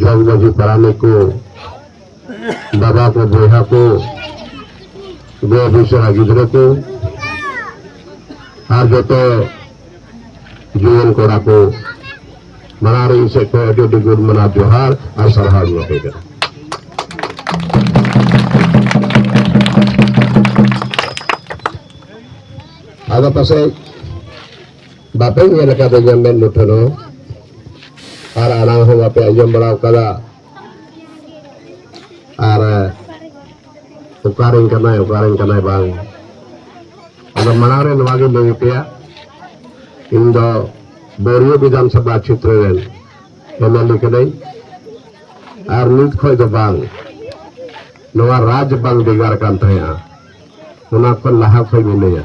ᱡᱚᱜᱽ ᱢᱟᱹᱡᱷᱤ ᱯᱟᱨᱟᱱᱤᱠ ᱠᱚ ᱵᱟᱵᱟ ᱠᱚ ᱵᱚᱭᱦᱟ ᱠᱚ ᱜᱚ ᱵᱤᱥᱟᱹᱨᱟ ᱜᱤᱫᱽᱨᱟᱹ ᱠᱚ ᱟᱨ ᱡᱚᱛᱚ ᱡᱩᱣᱟᱹᱱ ᱠᱚᱲᱟ ᱠᱚ ᱢᱟᱲᱟᱝ ᱨᱮ ᱤᱧ ᱥᱮᱫ ᱠᱷᱚᱱ ᱟᱹᱰᱤ ᱟᱹᱰᱤ ᱜᱩᱰ ᱢᱟᱱᱟᱣ ᱡᱚᱦᱟᱨ ᱟᱨ ᱥᱟᱨᱦᱟᱣ ᱤᱧ ᱮᱢᱟᱯᱮ ᱠᱟᱱᱟ ᱟᱫᱚ ᱯᱟᱥᱮᱡ ᱵᱟᱯᱮ ᱧᱮᱞ ᱟᱠᱟᱫᱟ ᱧᱟᱢ ᱢᱮᱫ ᱢᱩᱴᱷᱟᱹᱱ ᱦᱚᱸ ᱟᱨ ᱟᱲᱟᱝ ᱦᱚᱸ ᱵᱟᱯᱮ ᱟᱸᱡᱚᱢ ᱵᱟᱲᱟ ᱟᱠᱟᱫᱟ ᱟᱨ ᱚᱠᱟᱨᱮᱱ ᱠᱟᱱᱟᱭ ᱚᱠᱟᱨᱮᱱ ᱠᱟᱱᱟᱭ ᱵᱟᱝ ᱟᱫᱚ ᱢᱟᱲᱟᱝ ᱨᱮ ᱱᱚᱣᱟ ᱜᱮ ᱞᱟᱹᱭ ᱯᱮᱭᱟ ᱤᱧ ᱫᱚ ᱵᱳᱨᱤᱭᱳ ᱵᱤᱫᱷᱟᱱ ᱥᱚᱵᱷᱟ ᱪᱷᱮᱛᱨᱚ ᱨᱮᱱ ᱮᱢᱮᱞᱮ ᱠᱟᱹᱱᱟᱹᱧ ᱟᱨ ᱱᱤᱛ ᱠᱷᱚᱱ ᱫᱚ ᱵᱟᱝ ᱱᱚᱣᱟ ᱨᱟᱡᱽ ᱵᱟᱝ ᱵᱷᱮᱜᱟᱨ ᱠᱟᱱ ᱛᱟᱦᱮᱸᱜᱼᱟ ᱚᱱᱟ ᱠᱷᱚᱱ ᱞᱟᱦᱟ ᱠᱷᱚᱱ ᱢᱤᱱᱟᱹᱧᱟ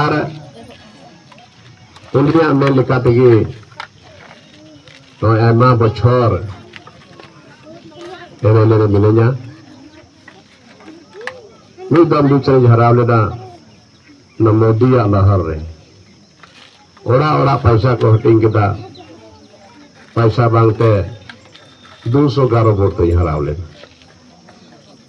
ᱟᱨ ᱩᱱᱤᱭᱟᱜ ᱢᱮᱱ ᱞᱮᱠᱟ ᱛᱮᱜᱮ ᱱᱚᱜᱼᱚᱭ ᱟᱭᱢᱟ ᱵᱚᱪᱷᱚᱨ ᱮᱢᱮᱞᱮ ᱨᱮ ᱢᱤᱱᱟᱹᱧᱟ ᱢᱤᱫ ᱫᱚᱢ ᱵᱤᱪᱟᱹᱨᱤᱧ ᱦᱟᱨᱟᱣ ᱞᱮᱫᱟ ᱚᱱᱟ ᱢᱳᱫᱤᱭᱟᱜ ᱞᱟᱦᱟᱨ ᱨᱮ ᱚᱲᱟᱜ ᱚᱲᱟᱜ ᱯᱚᱭᱥᱟ ᱠᱚ ᱦᱟᱹᱴᱤᱧ ᱠᱮᱫᱟ ᱯᱚᱭᱥᱟ ᱵᱟᱝᱛᱮ ᱫᱩᱥᱚ ᱜᱟᱨᱚ ᱵᱷᱳᱴ ᱛᱮᱧ ᱦᱟᱨᱟᱣ ᱞᱮᱱᱟ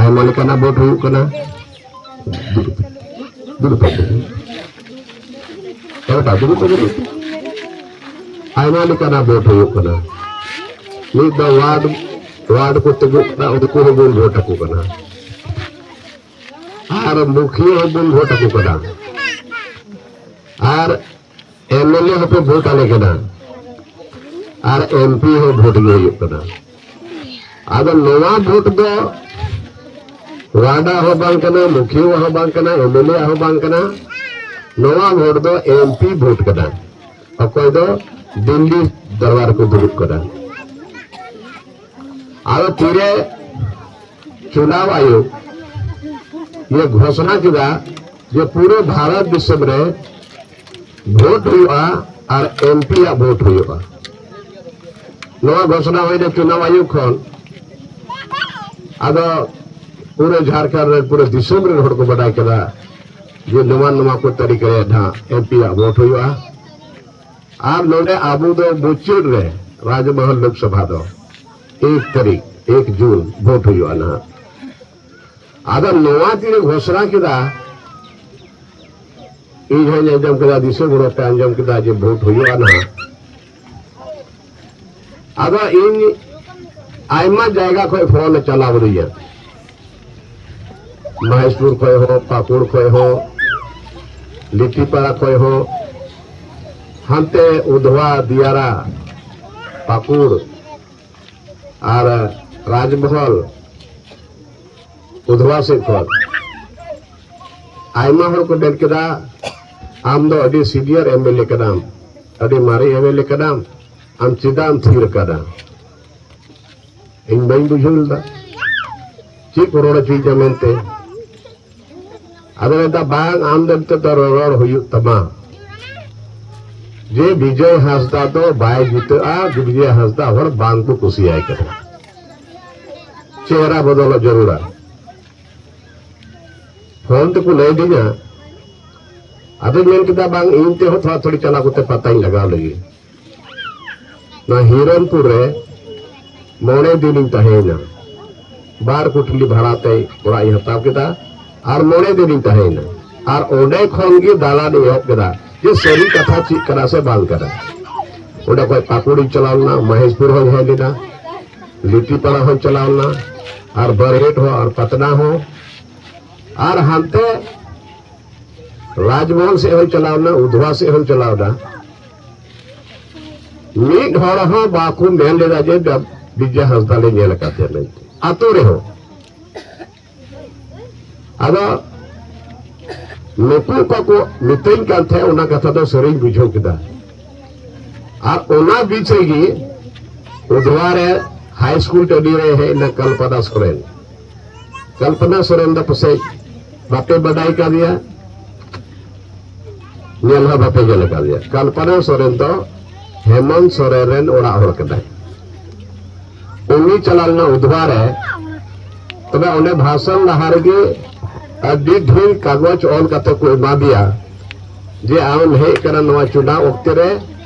ᱟᱭᱢᱟ ᱞᱮᱠᱟᱱᱟᱜ ᱵᱳᱴ ᱦᱩᱭᱩᱜ ᱠᱟᱱᱟ ᱫᱩᱲᱩᱵ ᱫᱩᱲᱩᱵ ᱟᱭᱢᱟ ᱞᱮᱠᱟᱱᱟᱜ ᱵᱳᱴ ᱦᱩᱭᱩᱜ ᱠᱟᱱᱟ ᱢᱤᱫ ᱫᱚ ᱣᱟᱨᱰ ᱣᱟᱨᱰ ᱠᱚ ᱛᱤᱸᱜᱩᱜ ᱠᱟᱱᱟ ᱩᱱᱠᱩ ᱦᱚᱸᱵᱚᱱ ᱵᱷᱳᱴ ᱟᱠᱚ ᱠᱟᱱᱟ ᱟᱨ ᱢᱩᱠᱷᱤᱭᱟᱹ ᱦᱚᱸᱵᱚᱱ ᱵᱷᱳᱴ ᱟᱠᱚ ᱠᱟᱱᱟ ᱟᱨ ᱮᱢ ᱮᱞ ᱮ ᱦᱚᱸᱯᱮ ᱵᱷᱳᱴ ᱟᱞᱮ ᱠᱟᱱᱟ ᱟᱨ ᱮᱢ ᱯᱤ ᱦᱚᱸ ᱵᱷᱳᱴ ᱜᱮ ᱦᱩᱭᱩᱜ ᱠᱟᱱᱟ ᱟᱫᱚ ᱱᱚᱣᱟ ᱵᱷᱳᱴ ᱫᱚ ᱣᱟᱰᱟ ᱦᱚᱸ ᱵᱟᱝ ᱠᱟᱱᱟ ᱢᱩᱠᱷᱤᱭᱟᱹ ᱦᱚᱸ ᱵᱟᱝ ᱠᱟᱱᱟ ᱮᱢ ᱮᱞ ᱮ ᱦᱚᱸ ᱵᱟᱝ ᱠᱟᱱᱟ ᱱᱚᱣᱟ ᱵᱷᱳᱴ ᱫᱚ ᱮᱢ ᱯᱤ ᱵᱷᱳᱴ ᱠᱟᱱᱟ ᱚᱠᱚᱭ ᱫᱚ ᱫᱤᱞᱞᱤ ᱫᱚᱨᱵᱟᱨ ᱠᱚ ᱫᱩᱲᱩᱵ ᱠᱟᱱᱟ ᱟᱫᱚ ᱛᱤᱨᱮ ᱪᱩᱱᱟᱣ ᱟᱭᱳᱜᱽ ᱱᱤᱭᱟᱹ ᱜᱷᱳᱥᱚᱱᱟ ᱠᱮᱫᱟ ᱡᱮ ᱯᱩᱨᱟᱹ ᱵᱷᱟᱨᱚᱛ ᱫᱤᱥᱚᱢ ᱨᱮ ᱵᱷᱳᱴ ᱦᱩᱭᱩᱜᱼᱟ ᱟᱨ ᱮᱢᱯᱤ ᱟᱜ ᱵᱷᱳᱴ ᱦᱩᱭᱩᱜᱼᱟ ᱱᱚᱣᱟ ᱜᱷᱳᱥᱱᱟ ᱦᱩᱭᱱᱟ ᱪᱩᱱᱟᱣ ᱟᱭᱳᱜᱽ ᱠᱷᱚᱱ ᱟᱫᱚ ᱯᱩᱨᱟᱹ ᱡᱷᱟᱲᱠᱷᱚᱸᱰ ᱨᱮ ᱯᱩᱨᱟᱹ ᱫᱤᱥᱚᱢ ᱨᱮᱱ ᱦᱚᱲ ᱠᱚ ᱵᱟᱰᱟᱭ ᱠᱮᱫᱟ ᱡᱮ ᱱᱚᱣᱟ ᱱᱚᱣᱟ ᱠᱚ ᱛᱟᱹᱨᱤᱠᱟ ᱨᱮ ᱱᱟᱦᱟᱜ ᱮᱢᱯᱤ ᱟᱜ ᱵᱷᱳᱴ ᱦᱩᱭᱩᱜᱼᱟ ᱟᱨ ᱱᱚᱰᱮ ᱟᱵᱚ ᱫᱚ ᱢᱩᱪᱟᱹᱫ ᱨᱮ ᱨᱟᱡᱽᱢᱚᱦᱚᱞ ᱞᱳᱠᱥᱚᱵᱷᱟ ᱫᱚ ᱮᱠ ᱛᱟᱹᱨᱤᱠ ᱮᱠ ᱡᱩᱱ ᱵᱷᱳᱴ ᱦᱩᱭᱩᱜᱼᱟ ᱱᱟᱦᱟᱜ ᱟᱫᱚ ᱱᱚᱣᱟ ᱛᱤᱨᱮ ᱜᱷᱳᱥᱱᱟ ᱠᱮᱫᱟ ᱤᱧ ᱦᱚᱸᱧ ᱟᱸᱡᱚᱢ ᱠᱮᱫᱟ ᱫᱤᱥᱟᱹ ᱜᱚᱲᱚ ᱯᱮ ᱟᱸᱡᱚᱢ ᱠᱮᱫᱟ ᱡᱮ ᱵᱷᱳᱴ ᱦᱩᱭᱩᱜᱼᱟ ᱱᱟᱦᱟᱜ ᱟᱫᱚ ᱤᱧ ᱟᱭᱢᱟ ᱡᱟᱭᱜᱟ ᱠᱷᱚᱡ ᱯᱷᱳᱱ ᱪᱟᱞᱟᱣ ᱟᱹᱫᱤᱧᱟ ᱢᱚᱦᱮᱥᱯᱩᱨ ᱠᱷᱚᱡ ᱦᱚᱸ ᱯᱟᱠᱩᱲ ᱠᱷᱚᱡ ᱦᱚᱸ ᱞᱤᱴᱤᱯᱟᱲᱟ ᱠᱷᱚᱡ ᱦᱚᱸ ᱦᱟᱱᱛᱮ ᱩᱫᱷᱣᱟ ᱫᱤᱭᱟᱨᱟ ᱯᱟᱠᱩᱲ ᱟᱨ ᱨᱟᱡᱽᱢᱚᱦᱚᱞ ᱩᱫᱷᱣᱟ ᱥᱮᱫ ᱠᱷᱚᱱ ᱟᱭᱢᱟ ᱦᱚᱲ ᱠᱚ ᱢᱮᱱ ᱠᱮᱫᱟ ᱟᱢ ᱫᱚ ᱟᱹᱰᱤ ᱥᱤᱱᱤᱭᱟᱨ ᱮᱢ ᱮᱞ ᱮ ᱠᱟᱱᱟᱢ ᱟᱹᱰᱤ ᱢᱟᱨᱮ ᱮᱢ ᱮᱞ ᱮ ᱠᱟᱱᱟᱢ ᱟᱢ ᱪᱮᱫᱟᱜ ᱮᱢ ᱛᱷᱤᱨ ᱠᱟᱫᱟ ᱤᱧ ᱵᱟᱹᱧ ᱵᱩᱡᱷᱟᱹᱣ ᱞᱮᱫᱟ ᱪᱮᱫ ᱠᱚ ᱨᱚᱲ ᱦᱚᱪᱚᱭᱮᱫᱟ ᱢᱮᱱᱛᱮ ᱟᱫᱚ ᱢᱮᱱᱫᱟ ᱵᱟᱝ ᱟᱢ ᱫᱚ ᱱᱤᱛᱚᱜ ᱫᱚ ᱨᱚᱨᱚᱲ ᱦᱩᱭᱩᱜ ᱛᱟᱢᱟ ᱡᱮ ᱵᱤᱡᱚᱭ ᱦᱟᱸᱥᱫᱟ ᱫᱚ ᱵᱟᱭ ᱡᱤᱛᱟᱹᱜᱼᱟ ᱵᱤᱡᱚᱭ ᱦᱟᱸᱥᱫᱟ ᱦᱚᱲ ᱵᱟᱝ ᱠᱚ ᱠᱩᱥᱤᱭᱟᱭ ᱠᱟᱱᱟ ᱪᱮᱦᱨᱟ ᱵᱚᱫᱚᱞᱚᱜ ᱡᱟᱹᱨᱩᱲᱟ ᱯᱷᱳᱱ ᱛᱮᱠᱚ ᱞᱟᱹᱭ ᱫᱤᱧᱟ ᱟᱫᱚᱧ ᱢᱮᱱ ᱠᱮᱫᱟ ᱵᱟᱝ ᱤᱧ ᱛᱮᱦᱚᱸ ᱛᱷᱚᱲᱟ ᱛᱷᱚᱲᱤ ᱪᱟᱞᱟᱣ ᱠᱟᱛᱮ ᱯᱟᱛᱟᱧ ᱞᱟᱜᱟᱣ ᱞᱟᱹᱜᱤᱫ ᱱᱚᱣᱟ ᱦᱤᱨᱚᱱᱯᱩᱨ ᱨᱮ ᱢᱚᱬᱮ ᱫᱤᱱᱤᱧ ᱛᱟᱦᱮᱸᱭᱮᱱᱟ ᱵᱟᱨ ᱠᱩᱴᱞᱤ ᱵᱷᱟᱲᱟᱛᱮ ᱚᱲᱟᱜ ᱤᱧ ᱦᱟᱛᱟᱣ ᱠᱮᱫᱟ ᱟᱨ ᱢᱚᱬᱮ ᱫᱤᱱᱤᱧ ᱛᱟᱦᱮᱸᱭᱮᱱᱟ ᱟᱨ ᱚᱸᱰᱮ ᱠᱷᱚᱱ ᱜᱮ ᱫᱟᱬᱟᱱ ᱮᱦᱚᱵ ᱠᱮᱫᱟ ᱡᱮ ᱥᱟᱹᱨᱤ ᱠᱟᱛᱷᱟ ᱪᱮᱫ ᱠᱟᱱᱟ ᱥᱮ ᱵᱟᱝ ᱠᱟᱱᱟ ᱚᱸᱰᱮ ᱠᱷᱚᱱ ᱯᱟᱠᱩᱲᱤᱧ ᱪᱟᱞᱟᱣ ᱞᱮᱱᱟ ᱢᱚᱦᱮᱥᱯᱩᱨ ᱦᱚᱸᱧ ᱦᱮᱡ ᱞᱮᱱᱟ ᱞᱤᱴᱤᱯᱟᱲᱟ ᱦᱚᱸᱧ ᱪᱟᱞᱟᱣ ᱞᱮᱱᱟ ᱟᱨ ᱵᱟᱨᱦᱮᱴ ᱦᱚᱸ ᱟᱨ ᱯᱟᱛᱱᱟ ᱦᱚᱸ ᱟᱨ ᱦᱟᱱᱛᱮ ᱨᱟᱡᱽᱢᱚᱦᱚᱞ ᱥᱮᱫ ᱦᱚᱸᱧ ᱪᱟᱞᱟᱣ ᱞᱮᱱᱟ ᱩᱫᱷᱣᱟ ᱥᱮᱫ ᱦᱚᱸᱧ ᱪᱟᱞᱟᱣ ᱞᱮᱱᱟ ᱢᱤᱫ ᱦᱚᱲ ᱦᱚᱸ ᱵᱟᱠᱚ ᱢᱮᱱ ᱞᱮᱫᱟ ᱡᱮ ᱵᱤᱡᱭᱟ ᱦᱟᱸᱥᱫᱟ ᱞᱮ ᱧᱮᱞ ᱟᱠᱟᱫᱮᱭᱟ ᱢᱮᱱᱛᱮ ᱟᱛᱳ ᱨᱮᱦᱚᱸ ᱟᱫᱚ ᱱᱩᱠᱩ ᱚᱠᱟ ᱠᱚ ᱢᱤᱛᱟᱹᱧ ᱠᱟᱱ ᱛᱟᱦᱮᱸᱫ ᱚᱱᱟ ᱠᱟᱛᱷᱟ ᱫᱚ ᱥᱟᱹᱨᱤᱧ ᱵᱩᱡᱷᱟᱹᱣ ᱠᱮᱫᱟ ᱟᱨ ᱚᱱᱟ ᱵᱤᱪ ᱨᱮᱜᱮ ᱩᱫᱷᱣᱟ ᱨᱮ ᱦᱟᱭ ᱥᱠᱩᱞ ᱴᱟᱺᱰᱤ ᱨᱮ ᱦᱮᱡ ᱮᱱᱟ ᱠᱚᱞᱯᱚᱱᱟ ᱥᱚᱨᱮᱱ ᱠᱚᱞᱯᱚᱱᱟ ᱥᱚᱨᱮᱱ ᱫᱚ ᱯᱟᱥᱮᱡ ᱵᱟᱯᱮ ᱵᱟᱰᱟᱭ ᱠᱟᱫᱮᱭᱟ ᱧᱮᱞ ᱦᱚᱸ ᱵᱟᱯᱮ ᱧᱮᱞ ᱟᱠᱟᱫᱮᱭᱟ ᱠᱟᱞᱯᱟᱱᱟ ᱥᱚᱨᱮᱱ ᱫᱚ ᱦᱮᱢᱚᱱᱛ ᱥᱚᱨᱮᱱ ᱨᱮᱱ ᱚᱲᱟᱜ ᱦᱚᱲ ᱠᱟᱱᱟᱭ ᱩᱱᱤ ᱪᱟᱞᱟᱣ ᱞᱮᱱᱟ ᱩᱫᱷᱣᱟ ᱨᱮ ᱛᱚᱵᱮ ᱚᱸᱰᱮ ᱵᱷᱟᱥᱚᱱ ᱞᱟᱦᱟ ᱨᱮᱜᱮ ᱟᱹᱰᱤ ᱰᱷᱮᱨ ᱠᱟᱜᱚᱡᱽ ᱚᱞ ᱠᱟᱛᱮ ᱠᱚ ᱮᱢᱟᱫᱮᱭᱟ ᱡᱮ ᱟᱢ ᱦᱮᱡ ᱠᱟᱱᱟ ᱱᱚᱣᱟ ᱪᱩᱱᱟᱣ ᱚᱠᱛᱮ ᱨᱮ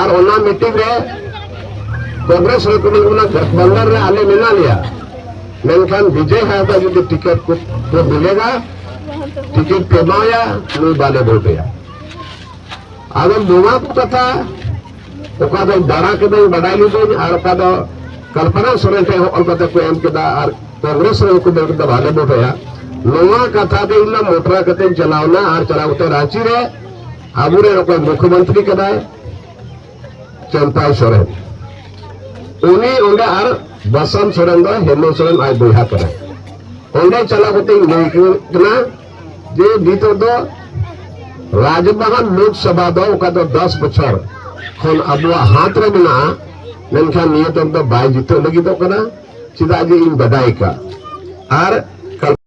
ᱟᱨ ᱚᱱᱟ ᱢᱤᱴᱤᱝ ᱨᱮ ᱠᱚᱝᱜᱨᱮᱥ ᱨᱮ ᱠᱚᱢᱤ ᱚᱱᱟ ᱜᱚᱴᱵᱚᱱᱫᱚᱱ ᱨᱮ ᱟᱞᱮ ᱢᱮᱱᱟ ᱞᱮᱭᱟ ᱢᱮᱱᱠᱷᱟᱱ ᱵᱤᱡᱚᱭ ᱦᱟᱸᱥᱫᱟ ᱡᱩᱫᱤ ᱴᱤᱠᱮᱴ ᱠᱚ ᱠᱚ ᱢᱤᱞᱮᱜᱟ ᱴᱤᱠᱮᱴ ᱯᱮ ᱮᱢᱟᱭᱟ ᱱᱩᱭ ᱵᱟᱞᱮ ᱵᱷᱳᱴᱮᱭᱟ ᱟᱫᱚ ᱱᱚᱣᱟ ᱠᱚ ᱠᱟᱛᱷᱟ ᱚᱠᱟ ᱫᱚ ᱫᱟᱬᱟ ᱠᱮᱫᱟᱹᱧ ᱵᱟᱰᱟᱭ ᱞᱤᱫᱟᱹᱧ ᱟᱨ ᱚᱠᱟ ᱫᱚ ᱠᱚᱞᱯᱚᱱᱟ ᱥᱚᱨᱮᱱ ᱴᱷᱮᱱ ᱚᱞ ᱠᱟᱛᱮ ᱠᱚ ᱮᱢ ᱠᱮᱫᱟ ᱟᱨ ᱠᱚᱝᱜᱨᱮᱥ ᱨᱮ ᱠᱚ ᱢᱮᱱ ᱠᱮᱫᱟ ᱵᱟᱞᱮ ᱵᱷᱳᱴᱮᱭᱟ ᱱᱚᱣᱟ ᱠᱟᱛᱷᱟ ᱫᱚ ᱤᱧ ᱢᱚᱴᱨᱟ ᱠᱟᱛᱮᱧ ᱪᱟᱞᱟᱣᱱᱟ ᱟᱨ ᱪᱟᱞᱟᱣ ᱠᱟᱛᱮ ᱨᱟᱸᱪᱤ ᱨᱮ ᱟᱵᱚ ᱨᱮᱱ ᱚᱠᱚᱭ ᱢᱩᱠᱷᱭᱚᱢᱚᱱᱛᱨᱤ ᱠᱟᱱᱟᱭ ᱪᱟᱢᱯᱟᱭ ᱥᱚᱨᱮᱱ ᱩᱱᱤ ᱚᱸᱰᱮ ᱟᱨ ᱵᱟᱥᱟᱱ ᱥᱚᱨᱮᱱ ᱫᱚ ᱦᱮᱢᱚᱱ ᱥᱚᱨᱮᱱ ᱟᱡ ᱵᱚᱭᱦᱟ ᱠᱟᱱᱟᱭ ᱚᱸᱰᱮ ᱪᱟᱞᱟᱣ ᱠᱟᱛᱮ ᱤᱧ ᱞᱟᱹᱭ ᱠᱟᱱᱟ ᱡᱮ ᱱᱤᱛᱚᱜ ᱫᱚ ᱨᱟᱡᱽᱵᱟᱦᱟ ᱞᱳᱠᱥᱚᱵᱷᱟ ᱫᱚ ᱚᱠᱟ ᱫᱚ ᱫᱚᱥ ᱵᱚᱪᱷᱚᱨ ᱠᱷᱚᱱ ᱟᱵᱚᱣᱟᱜ ᱦᱟᱛ ᱨᱮ ᱢᱮᱱᱟᱜᱼᱟ ᱢᱮᱱᱠᱷᱟᱱ ᱱᱤᱭᱟᱹ ᱫᱚ ᱵᱟᱭ ᱡᱤᱛᱟᱹᱣ ᱞᱟᱹᱜᱤᱫᱚᱜ ᱠᱟᱱᱟ ᱪᱮᱫᱟᱜ ᱡᱮ ᱤᱧ ᱵᱟᱰᱟᱭ ᱠᱟᱜ ᱟᱨ